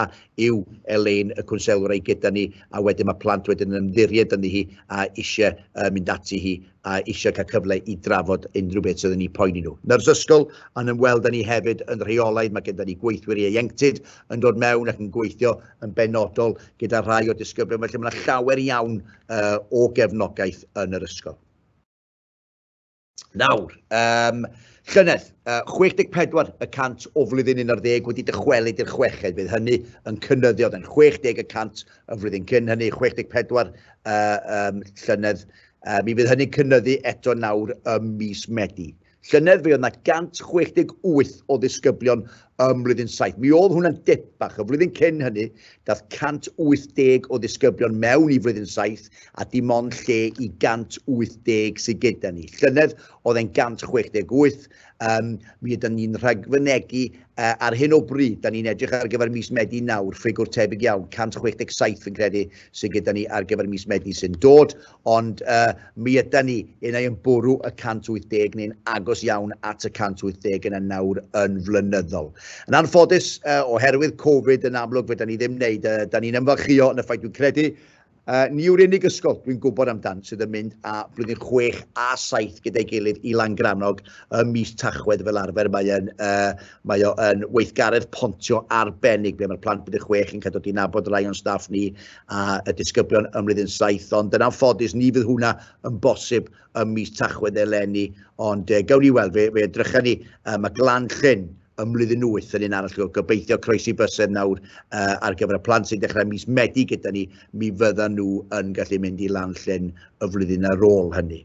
yw Elaine y cwnselwr ei gyda ni a wedyn mae plant wedyn yn ymddiried ynddi hi a eisiau uh, mynd ati hi a eisiau cael cyfle i drafod unrhyw beth sydd yn eu poeni nhw. Nyrs ysgol yn ymweld â ni hefyd yn rheolaidd, mae gyda ni gweithwyr ieuenctid yn dod mewn ac yn gweithio yn benodol gyda rhai o disgyblion, felly mae yna llawer iawn uh, o gefnogaeth yn yr ysgol. Nawr, um, Llynedd, uh, 64 y cant o flwyddyn 11 wedi dychwelyd i'r chweched, bydd hynny yn cynnyddio, yn 60 y cant y flwyddyn cyn hynny, 64 uh, um, llynedd Mi fydd hynny'n cynnyddu eto nawr ym mis Medi. Llynedd fe oedd yna 168 o ddisgyblion ym mlwyddyn saith. Mi oedd hwnna'n dip bach. Y flwyddyn cyn hynny, dath 180 o ddisgyblion mewn i flwyddyn saith a dim ond lle i 180 sydd gyda ni. Llynedd oedd e'n 168 Um, mi ydym ni'n rhagfynegu uh, ar hyn o bryd, da ni'n edrych ar gyfer mis Medi nawr, ffigwr tebyg iawn, 167 yn credu sy'n gyda ni ar gyfer mis Medi sy'n dod, ond uh, mi ydym ni yn ei ymbwrw y 180 neu'n agos iawn at y 180 yn y nawr yn flynyddol. Yn anffodus, uh, oherwydd Covid yn amlwg, fe da ni ddim wneud, uh, da ni'n ymfalchio yn y ffaith dwi'n credu, Uh, ni yw'r unig ysgol dwi'n gwybod amdan sydd yn mynd â blwyddyn 6 a 7 gyda'i gilydd i Langrannog ym mis Tachwedd fel arfer. Mae, yn, uh, mae o yn weithgaredd pontio arbennig ble mae'r plant blwyddyn 6 yn cael dod i nabod rai o'n staff ni a y disgyblion ym mlwyddyn 7. Ond yn anffodus, ni fydd hwnna yn bosib ym mis Tachwedd eleni. Ond uh, gawn ni weld, fe, fe edrychau ni, uh, mae Glan Llyn ym mlwyddyn wyth yn un arall. Go- Gobeithio croesi bysedd nawr uh, ar gyfer y plant sy'n dechrau mis Medi gyda ni, mi fyddan nhw yn gallu mynd i lan llyn y flwyddyn ar ôl hynny.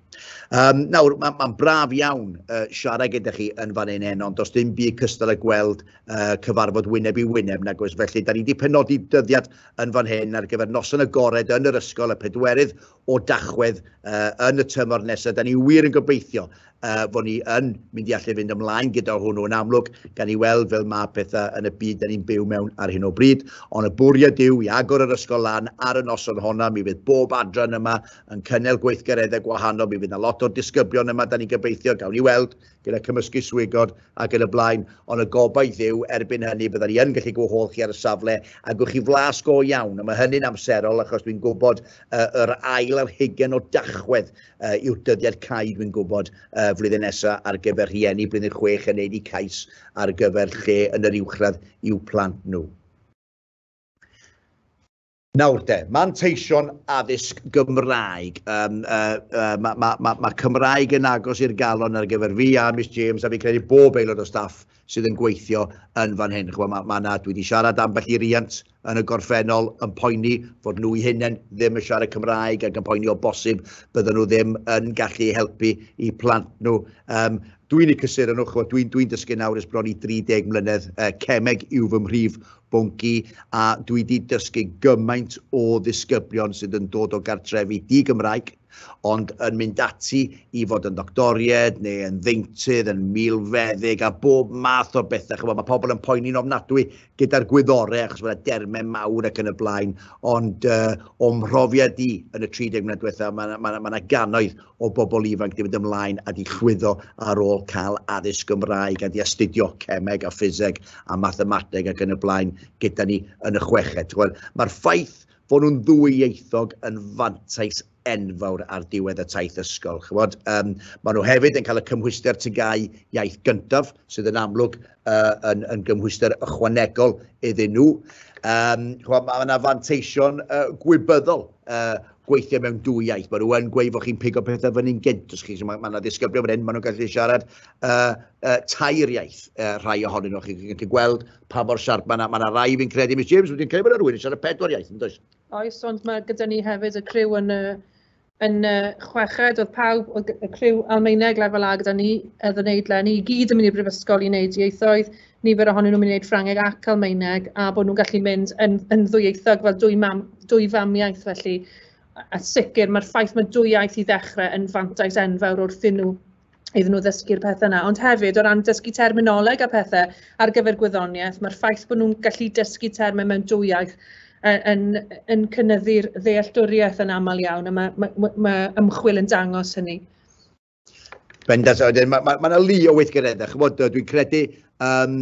Um, nawr, mae'n ma braf iawn uh, siarad gyda chi yn fan hyn heno, ond does dim byd cystal â gweld uh, cyfarfod wyneb i wyneb nag oes. Felly, da ni wedi penodi dyddiad yn fan hyn ar gyfer noson agored yn yr ysgol y pedwerydd o Dachwedd uh, yn y tymor nesaf. Da ni wir yn gobeithio uh, fod ni yn mynd i allu fynd ymlaen gyda hwnnw yn amlwg, gan i weld fel mae pethau yn y byd da ni'n byw mewn ar hyn o bryd. Ond y bwriad yw i agor yr ysgol lan ar y noson honna, mi fydd bob adran yma yn cynnal gweithgareddau gwahanol, mi fydd yna lot o'r disgyblion yma, da ni'n gobeithio, gawn ni weld, gyda cymysgu swigod ac yn y blaen, ond y gobaith yw erbyn hynny bydda ni yn gallu gwahodd chi ar y safle a gwch chi flas go iawn, a mae hynny'n amserol achos dwi'n gwybod uh, yr ail ar hugen o dachwedd uh, yw'r dyddiad cae dwi'n gwybod uh, flwyddyn nesaf ar gyfer rhieni blwyddyn chwech yn neud i cais ar gyfer lle yn yr uwchradd i'w plant nhw. Nawr de, manteision addysg Gymraeg. Um, uh, uh, mae ma, ma, ma Cymraeg yn agos i'r galon ar gyfer fi a Miss James a fi credu bob aelod o staff sydd yn gweithio yn fan hyn. Chwa, ma, ma na, dwi wedi siarad ambell i riant yn y gorffennol yn poeni fod nhw i hunain ddim yn siarad Cymraeg ac yn poeni o bosib bydden nhw ddim yn gallu helpu i plant nhw. Um, dwi'n ei cysur yn ochr, dwi'n dwi dysgu nawr ys bron i 30 mlynedd, uh, cemeg yw fy mhrif Bwnci, a dwi 'di dysgu gymaint o ddisgyblion sydd yn dod o gartrefi di-Gymraeg, ond yn mynd ati i fod yn ddoctoried neu yn ddeintydd, yn milfeddyg a bob math o bethau. Chymod, mae pobl yn poeni'n ofnadwy gyda'r gwyddorau achos mae'n dermau mawr ac yn y blaen, ond uh, o'm mhrofiad i yn y 30 mlynedd diwethaf, mae yna ma, ma, ma gannoedd o bobl ifanc i fynd ymlaen a di chwyddo ar ôl cael addysg Gymraeg a di astudio cemeg a ffiseg a mathemateg ac yn y blaen gyda ni yn y chweched. Mae'r ffaith fod nhw'n ddwyieithog yn fantais enfawr ar diwedd y taith ysgol. Chymod, um, maen nhw hefyd yn cael y cymhwyster tygau iaith gyntaf, sydd yn amlwg uh, yn, yn gymhwyster ychwanegol iddyn nhw. Um, chymod, mae yna fanteision uh, gwybyddol uh, gweithio mewn dwy iaith. Mae rhywun gweud fod chi'n pigo pethau fyny'n gynt, os chi, so mae yna ma ddisgyblion fan hyn, maen nhw'n gallu siarad uh, uh, tair iaith, uh, rhai ohonyn nhw. Chi'n gallu gweld pa mor siarp, mae yna ma rai fi'n credu, Miss James, wedi'n credu bod yna rhywun yn siarad pedwar iaith, yn does? Oes, ond mae gyda ni hefyd y criw yn, uh, yn uh, chweched, oedd pawb, oedd y criw Almaeneg lefel A gyda ni, oedd yn neud len i gyd yn mynd i'r brifysgol i wneud ieithoedd, nifer ohonyn nhw'n mynd i wneud Ffrangeg ac Almaeneg, a bod nhw'n gallu mynd yn yn ddwyieithog fel dwy mam, dwy famiaith felly. A sicr, mae'r ffaith mae dwy iaith i ddechrau yn fantais enfawr wrthyn nhw iddyn nhw ddysgu'r pethau yna. Ond hefyd, o ran dysgu terminoleg a pethau ar gyfer gwyddoniaeth, mae'r ffaith bod nhw'n gallu dysgu termau mewn dwy iaith yn, yn cynnyddu'r ddealltwriaeth yn aml iawn, a mae, mae, mae ymchwil yn dangos hynny. Bendant, wedyn, mae yna ma, ma lu o weithgareddau. Chymod, dwi'n credu um,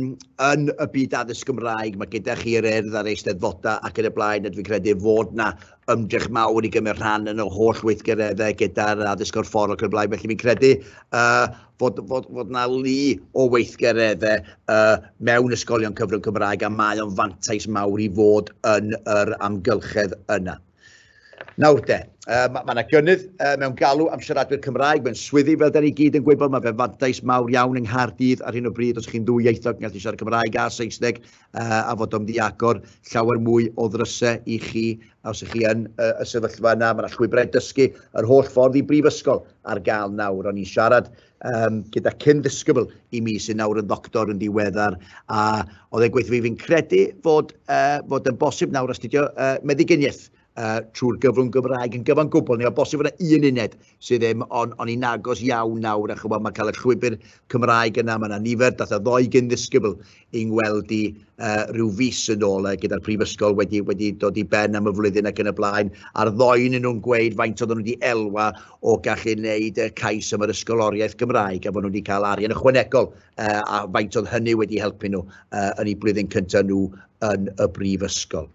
yn y byd addysg Gymraeg, mae gyda chi yr erdd a'r eisteddfodau ac yn y blaen, a dwi'n credu fod yna ymdrech mawr i gymryd rhan yn y holl weithgareddau gyda'r addysg o'r ffordd ac yn y blaen. Felly fi'n credu uh, fod, fod, fod yna lu o weithgareddau uh, mewn ysgolion cyfrwng Cymraeg a mae o'n fantais mawr i fod yn yr amgylchedd yna. Nawr de, uh, mae yna ma gynnydd uh, mewn galw am siaradwyr Cymraeg mewn swyddi, fel da ni gyd yn gwybod, mae fe'n fantais mawr iawn yng Nghaerdydd ar hyn o bryd os chi'n ddwy ieithog yn gallu siarad Cymraeg a Saesneg uh, a fod o'n ddiagor llawer mwy o ddrysau i chi os ych chi yn uh, y sefyllfa yna, mae yna llwybrau dysgu yr holl ffordd i brifysgol ar gael nawr, o'n i'n siarad um, gyda cyn ddisgybl i mi sy'n nawr yn ddoctor yn diweddar a oedd e'n gweithio fi fi'n credu fod, uh, fod yn bosib nawr astudio uh, meddyginiaeth uh, trwy'r gyfrwng Gymraeg yn gyfan gwbl. Neu o bosib yna un uned sydd ddim ond on i'n agos iawn nawr a chymod mae cael y llwybr Cymraeg yna, mae yna nifer, dath y ddoi gyn ddisgybl yng ngweld i uh, rhyw fus yn ôl uh, gyda'r prifysgol wedi, wedi dod i ben am y flwyddyn ac yn y blaen, a'r ddoen yn nhw'n gweud faint oedden nhw wedi elwa o gallu wneud uh, cais am yr ysgoloriaeth Gymraeg, a fod nhw wedi cael arian ychwanegol, uh, a faint oedd hynny wedi helpu nhw uh, yn eu blwyddyn cyntaf nhw yn y brifysgol.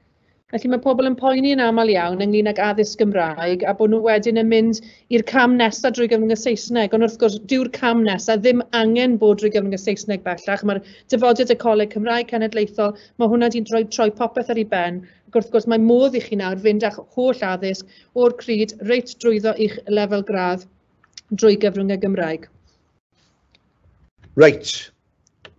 Felly mae pobl yn poeni yn aml iawn ynglyn ag addysg Gymraeg a bod nhw wedyn yn mynd i'r cam nesaf drwy gyfrwng y Saesneg. Ond wrth gwrs, dyw'r cam nesaf ddim angen bod drwy gyfrwng y Saesneg bellach. Mae'r dyfodiad y Coleg Cymraeg Cenedlaethol, mae hwnna wedi rhoi troi popeth ar ei ben. Ac wrth gwrs, mae modd i chi nawr fynd â'ch holl addysg o'r cryd reit drwyddo i'ch lefel gradd drwy gyfrwng y Gymraeg. Reit.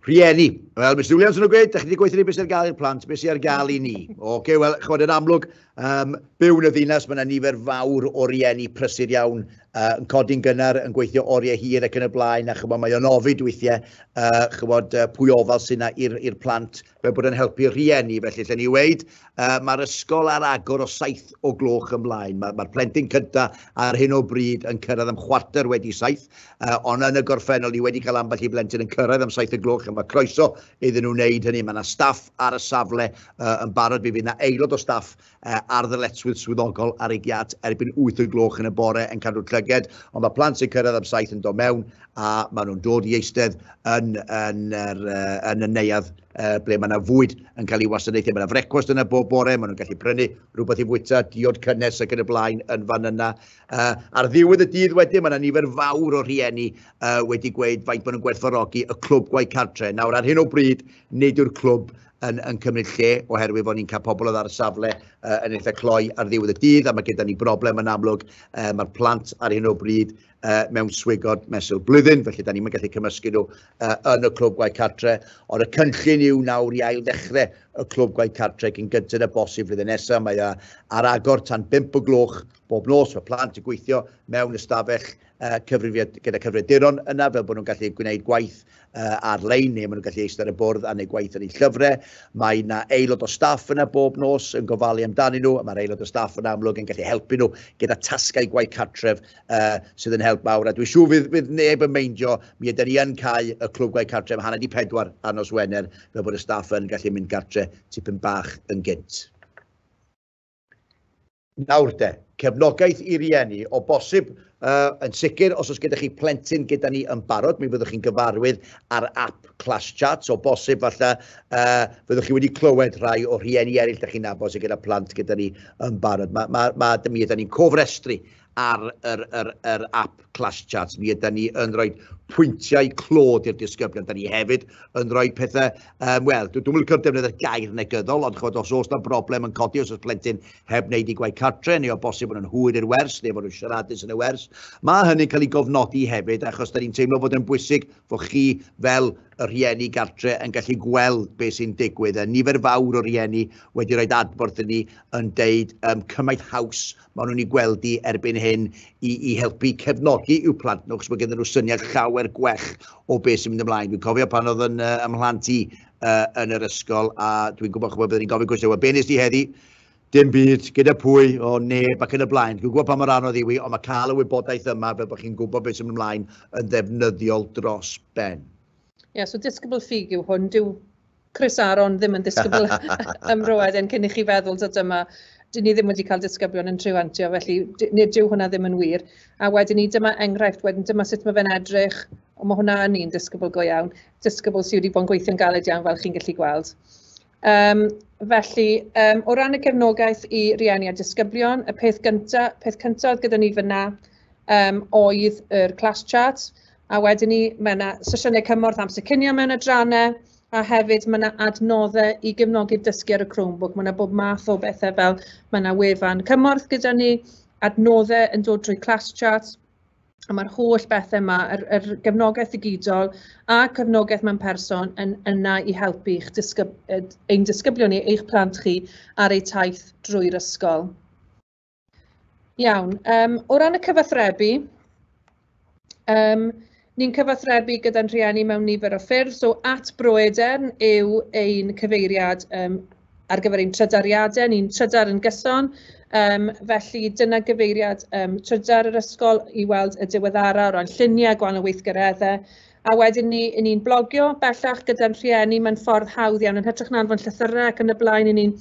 Rhieni. Wel, Mr Williams yn gweud, da chi wedi gweithio ni beth sy'n gael i'r plant, beth sy'n ar gael i ni. Oce, okay, wel, chod yn amlwg, um, byw yn y ddinas, mae yna nifer fawr o rieni prysur iawn uh, yn codi'n gynnar, yn gweithio oriau hir ac yn y blaen, a chymod, mae o'n ofid weithiau, uh, chymod, uh, pwy ofal sy'n yna i'r plant fel bod yn helpu rhieni, felly lle ni weid, uh, mae'r ysgol ar agor o saith o gloch ymlaen. Mae'r ma plentyn cynta ar hyn o bryd yn cyrraedd am chwarter wedi saith, uh, ond yn y gorffennol ni wedi cael ambell i blentyn yn cyrraedd am saith o gloch, a mae croeso iddyn nhw wneud hynny. Mae yna staff ar y safle uh, yn barod, mi fydd yna aelod o staff ar ddyletswydd swyddogol ar ei giat erbyn 8 y gloch yn y bore yn cadw'r llyged, ond mae plant sy'n cyrraedd am saith yn dod mewn a maen nhw'n dod i eistedd yn, yn, er, yn y neuadd uh, ble mae yna fwyd yn cael ei wasanaethu. Mae yna frecwast yna bob bore, maen nhw'n gallu prynu rhywbeth i fwyta, diod cynnes ac yn y blaen yn fan yna. Uh, ar ddiwedd y dydd wedyn, mae yna nifer fawr o rhieni uh, wedi gweud faint maen nhw'n gwerthfawrogi y clwb gwaith cartre. Nawr, ar hyn o bryd, nid yw'r clwb yn, yn cymryd lle oherwydd bod ni'n cael pobl oedd ar y safle uh, yn eitha cloi ar ddiwedd y dydd a mae gyda ni broblem yn amlwg. Uh, Mae'r plant ar hyn o bryd uh, mewn swigod mesul blwyddyn, felly da ni'n gallu cymysgu nhw uh, yn y clwb gwaith cartre. Ond y cynllun yw nawr i ail ddechrau y clwb gwaith cartre gyn gynted y bosib flwyddyn nesaf. Mae uh, ar agor tan 5 o gloch bob nos, mae plant yn gweithio mewn ystafell gyda cyfrifiaduron yna fel bod nhw'n gallu gwneud gwaith ar-lein neu maen nhw'n gallu eistedd ar y bwrdd a wneud gwaith yn eu llyfrau. Mae yna aelod o staff yna bob nos yn gofalu amdanyn nhw a mae'r aelod o staff yna amlwg yn gallu helpu nhw gyda tasgau gwaith cartref sydd yn help mawr a dwi'n siŵr fydd, fydd neb yn meindio mi ydy ni yn cael y clwb gwaith cartref hanner di pedwar ar nos Wener fel bod y staff yn gallu mynd gartre tipyn bach yn gynt. Nawr de, cefnogaeth i rieni, o bosib, uh, yn sicr, os oes gyda chi plentyn gyda ni yn barod, mi fyddwch chi'n gyfarwydd ar app Class Chats, o bosib falle, uh, fyddwch chi wedi clywed rhai o rhieni eraill da chi'n nabod sydd gyda plant gyda ni yn barod. Mae, mae, mae, mi ydym ni'n cofrestru ar yr, yr, yr app Clash Charts, mi ydy ni yn rhoi pwyntiau clod i'r disgyblion. Da ni hefyd yn rhoi pethau, um, wel, dwi'n mynd i'r defnydd y gair negyddol, ond chod, os oes na broblem yn codi, os oes plentyn heb wneud i gwaith cartre, neu o bosib yn hwyr i'r wers, neu fod nhw'n siaradus yn y wers, mae hynny'n cael ei gofnodi hefyd, achos da ni'n teimlo bod yn bwysig fod chi fel y rhieni gartre yn gallu gweld beth sy'n digwydd. A nifer fawr o rhieni wedi rhoi adborth i ni yn deud um, cymaint haws maen nhw'n ei gweld i erbyn hyn i, i helpu cefnogi i'w plant nhw, chos mae gen nhw syniad llawer gwell o beth sy'n mynd ymlaen. Dwi'n cofio pan oedd yn uh, ymhlant i uh, yn yr ysgol, a dwi'n gwybod chybod byddwn i'n gofyn cwestiwn, wel, be nes di heddi? Dim byd, gyda pwy, o neb ac yn y blaen. Dwi'n gwybod pa mor anodd yw i, ond mae cael y wybodaeth yma fel bod chi'n gwybod beth sy'n mynd ymlaen yn ddefnyddiol dros ben. Ie, yeah, so disgybl ffug yw hwn. Dyw Chris Aaron ddim yn ddisgybl ym Mroeden cyn i chi feddwl ta dyma, dyn ni ddim wedi cael disgyblion yn treiantio felly d- nid dyw hwnna ddim yn wir. A wedyn ni dyma enghraifft wedyn dyma sut mae fe'n edrych, ond mae hwnna yn un disgybl go iawn, disgybl sydd wedi bod yn gweithio'n galed iawn fel chi'n gallu gweld. Um, felly, um, o ran y cefnogaeth i rieni a disgyblion, y peth gyntaf, peth cyntaf gyda ni fyna um, oedd yr class chart, A wedyn ni, mae 'na sesiynau cymorth amser cinio mewn adrannau, a hefyd mae 'na adnoddau i gefnogi dysgu ar y Chromebook. Mae 'na bob math o bethau fel mae 'na wefan cymorth gyda ni, adnoddau yn dod drwy ClassChat, a mae'r holl bethau yma, yr yr gefnogaeth ddigidol a cefnogaeth mewn person yn yna i helpu i'ch disgyb- yy ein disgyblion ni, eich plant chi ar eu taith drwy'r ysgol. Iawn, yym o ran y cyfathrebu, yym ni'n cyfathrebu gyda'n rhieni mewn nifer o ffyrdd, so at Bro Edern yw ein cyfeiriad yym ar gyfer ein trydariadau, ni'n trydar yn gyson, yym felly dyna gyfeiriad yym trydar yr ysgol i weld y diweddara o ran lluniau gwahanol weithgareddau, a wedyn ni, 'y ni'n blogio bellach gyda'n rhieni, mae'n ffordd hawdd iawn, yn hytrach na anfon llythyrau ac yn y blaen, 'y ni'n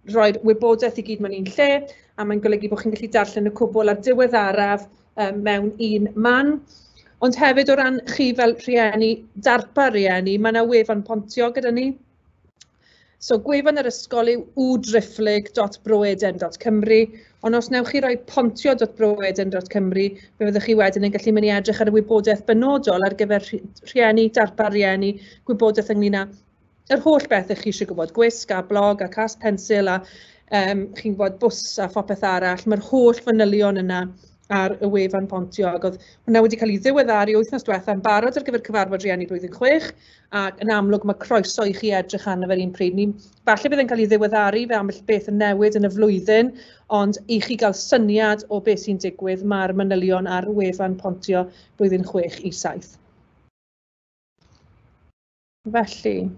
rhoi'r wybodaeth i gyd mewn un lle, a mae'n golygu bod chi'n gallu darllen y cwbl ar diweddaraf um, mewn un man. Ond hefyd o ran chi fel rhieni, darpa rhieni, mae yna wefan pontio gyda ni. So gwefan yr ysgol yw wdrifflig.broeden.cymru, ond os newch chi roi pontio.broeden.cymru, fe fyddwch chi wedyn yn gallu mynd i edrych ar y wybodaeth benodol ar gyfer rhieni, darpa rhieni, gwybodaeth ynglyn â yr holl beth ych chi eisiau gwybod, gwisg a blog a cas pensil a um, chi'n gwybod bws a phopeth arall, mae'r holl fanylion yna ar y wefan pontio ac oedd hwnna wedi cael ei ddiweddaru wythnos diwetha yn barod ar gyfer cyfarfod rhieni blwyddyn chwech ac yn amlwg mae croeso i chi edrych arno fe'r un pryd. Ni, falle bydd yn cael ei ddiweddaru fe ambell beth yn newid yn y flwyddyn ond i chi gael syniad o beth sy'n digwydd mae'r manylion ar wefan pontio blwyddyn chwech i saith. Felly,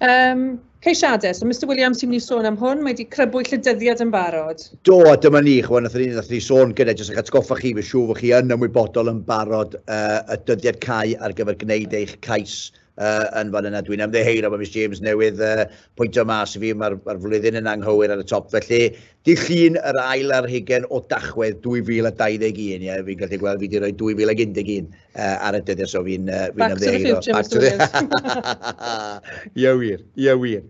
um, ceisiadau. So, Mr Williams, ti'n mynd i sôn am hwn, mae wedi crybwyll y dyddiad yn barod. Do, a dyma ni, chwan, nath ni, nath ni sôn gyda, jyst eich atgoffa chi, fe siw fod chi yn ymwybodol yn barod uh, y dyddiad cau ar gyfer gwneud eich cais uh, yn fan yna. Dwi'n ymddeheir am y Miss James newydd uh, pwynt o mas i fi, mae'r ma flwyddyn yn anghywir ar y top. Felly, Dy Llun yr ail ar hugen o Dachwedd 2021, ie, fi'n gallu gweld fi wedi rhoi 2011 uh, ar y dyddiau, so fi'n uh, fi Back to the future, Back to the... Ie wir, ie wir.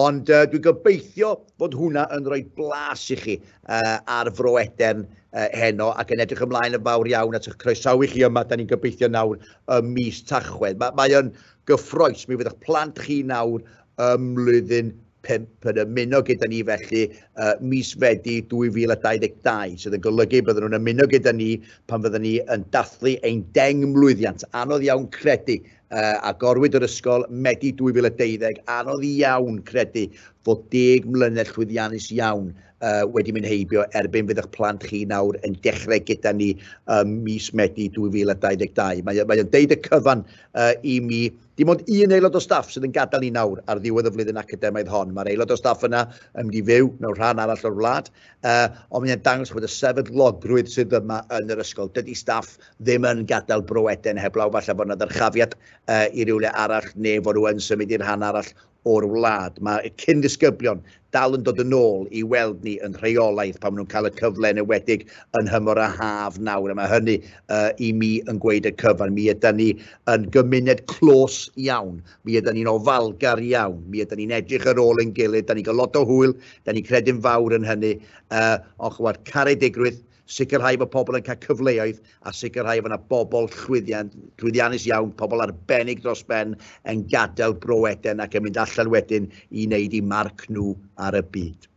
Ond uh, dwi'n gobeithio bod hwnna yn rhoi blas i chi uh, ar Fro Edern uh, heno ac yn edrych ymlaen yn fawr iawn at eich croesawu chi yma, da ni'n gobeithio nawr y mis Tachwedd. Mae, mae o'n gyffroes, mi fyddwch plant chi nawr ym mlwyddyn pump yn ymuno gyda ni felly uh, mis Fedi 2022, sydd yn golygu bydden nhw'n ymuno gyda ni pan fydden ni yn dathlu ein deng mlwyddiant. Anodd iawn credu, uh, a gorwyd yr ysgol Medi 2012, anodd iawn credu fod deg mlynedd llwyddiannus iawn uh, wedi mynd heibio erbyn fydd eich plant chi nawr yn dechrau gyda ni um, mis Medi 2022. Mae'n mae deud y cyfan uh, i mi Dim ond un aelod o staff sydd yn gadael ni nawr ar ddiwedd y flwyddyn academaidd hon. Mae'r aelod o staff yna yn mynd i fyw mewn rhan arall o'r wlad, uh, ond mae'n dangos bod y sefydlogrwydd sydd yma yn yr ysgol. Dydy staff ddim yn gadael Bro Eden heblaw, falle bod yna ddyrchafiad uh, i rywle arall neu fod nhw yn symud i'r rhan arall o'r wlad. Mae y cyn-ddisgyblion dal yn dod yn ôl i weld ni yn rheolaidd pan maen nhw'n cael y cyfle yn ewedig yn nhymor y haf nawr, a mae hynny uh, i mi yn gweud y cyfan. Mi yda ni yn gymuned clos iawn, mi yda ni'n ofalgar iawn, mi yda ni'n edrych ar ôl yn gilydd, da ni'n cael lot o hwyl, da ni'n credu'n fawr yn hynny, uh, ond chwad caredigrwydd, sicrhau bod pobl yn cael cyfleoedd a sicrhau fod yna bobl llwyddian, llwyddiannus iawn, pobl arbennig dros ben yn gadael Bro Eden ac yn mynd allan wedyn i wneud i marc nhw ar y byd.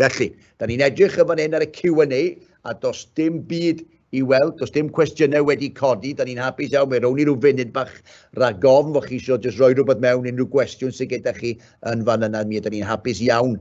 Felly, da ni'n edrych yn fan hyn ar y Q&A a dos dim byd i weld, dos dim cwestiynau wedi codi, da ni'n hapus iawn, fe rown ni rhyw funud bach ragofn fod chi eisiau jyst rhoi rhywbeth mewn unrhyw gwestiwn sydd gyda chi yn fan yna, mi ydyn ni'n hapus iawn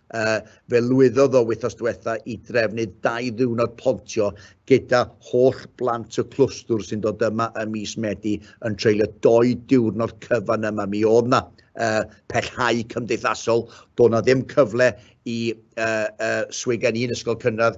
Fe lwyddodd o wythnos diwetha' i drefnu dau ddiwrnod pontio gyda holl blant y clwstwr sy'n dod yma ym mis Medi yn treulio dou diwrnod cyfan yma. Mi o'dd 'na pellhau cymdeithasol, do' 'na ddim cyfle i swigeni'n ysgol cynradd